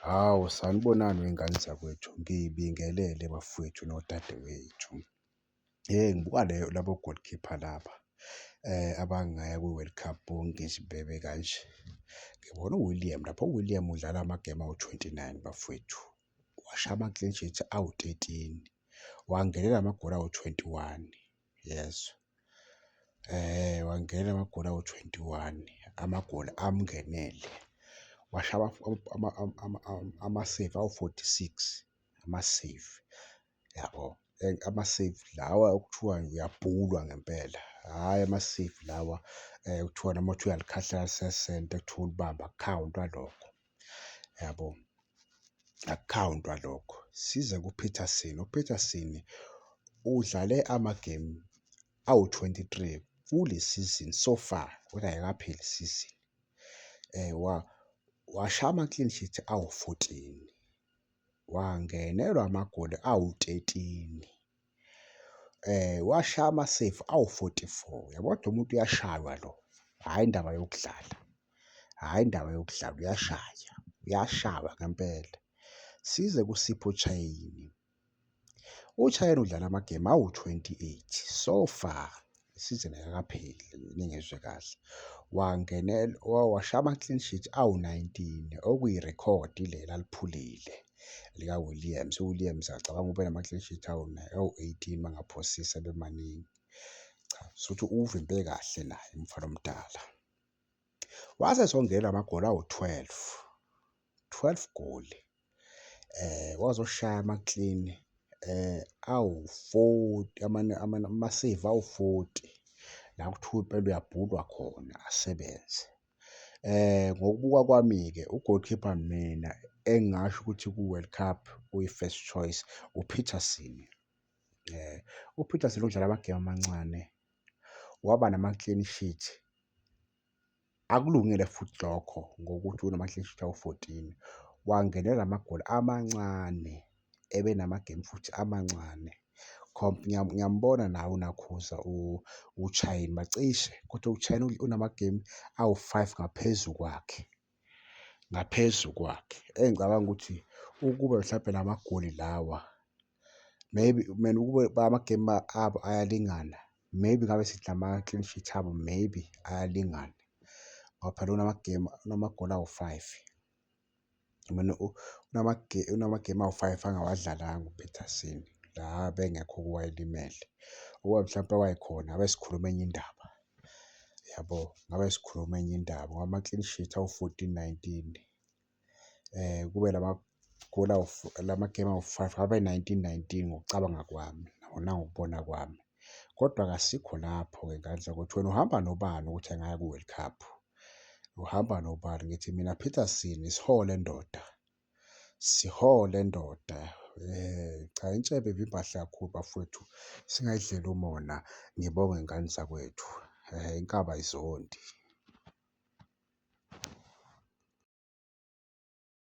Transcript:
Hawu, sanibonani wey'ngane zakwethu, ngibingelele bafwethu nodadewethu. Hheyi, ngibuka le labo goal keeper laba abangaya kwi-World Cup bonke nje bebe kanje. Ngibona uWilliam lapha, uWilliam udlala amagemu awu-twenty nine bafwethu, washaya ama-clean sheet awu-thirteen, wangenela amagoli awu-twenty one. yes eh wangena amagoli awu-twenty one amagoli amngenele washaya ama-save awu-forty six ama-save yabo ama-save lawa okuthiwa uyabhulwa ngempela hhayi ama-save lawa okuthiwa noma kuthiwa uyalikhahlela alisesente kuthiwa ulibambe akukhawuntwa lokho. yabo akukhawuntwa lokho size kuPeterson uPeterson udlale amagemu awu-23 kule season so far kodwa ayikapheli season eh wa washa ama-clean sheet awu-14 wangenelwa amagoli awu-13 Washaya amaseyifu awu-forty-four, uyabo? Kodwa umuntu uyashaywa lo, hhayi indaba yokudlala, hhayi indaba yokudlala, uyashaya, uyashaywa ngempela. Size kuSipho Chaine, uChaine udlala amagemu awu-twenty-eight so far, isizini ayikakapheli ningezwe kahle wangenela washaya ama-clean sheet awu-19 okuyirekhodi lela aliphulile lika-williams uwilliams acabanga ube nama-clean sheet awu-18 mangaphosisa bemaningi cha sokuthi uwuvimbe kahle naye umfana omdala wase songela amagoli awu-12 12 goli eh wazoshaya ama clean eh awu 40 amane amane ama save awu 40 la kuthiwa impela uyabhulwa khona asebenze eh ngokubuka kwami ke u goalkeeper mina engasho ukuthi ku World Cup uyi first choice u Peterson eh u Peterson udlala amagame amancane waba nama clean sheet Akulungile futhi lokho ngokuthi unoMahleshitha u-14 wangenela amagoli amancane ebenamagemu futhi amancane. Ngiyambona nawe uNakhuza uShayini bacishe kodwa uShayini unamagemu awu-five ngaphezu kwakhe. ngaphezu kwakhe engicabanga ukuthi ukube mhlawumbe la magoli lawa maybe mina ukube amagemu abo ayalingana maybe ngabe sithi ama-clean sheet abo maybe ayalingana ngoba phela unamagemu unamagoli awu-five mina unamagemu awu-five angawadlalanga upeterson la bengekho kuwayelimele ukuba mhlawumpe wayekhona abe sikhuluma enye indaba. yabo ngabe sikhuluma enye indaba ngoba ama-clean sheet awu-fourteen nineteen um kube lama goal lama-game awu-five ngabe nineteen nineteen ngokucabanga kwami nangokubona kwami kodwa kasikho lapho-ke ngandla ukuthi wena uhamba nobani ukuthi angaya ku-world cup uhamba nobani ngithi mina peterson isihole ndoda Sihole ndoda. Eh cha intshebe ibibahle kakhulu bafowethu. Singayidlela umona. Ngibonge ngane zakwethu. Eh inkaba izondi.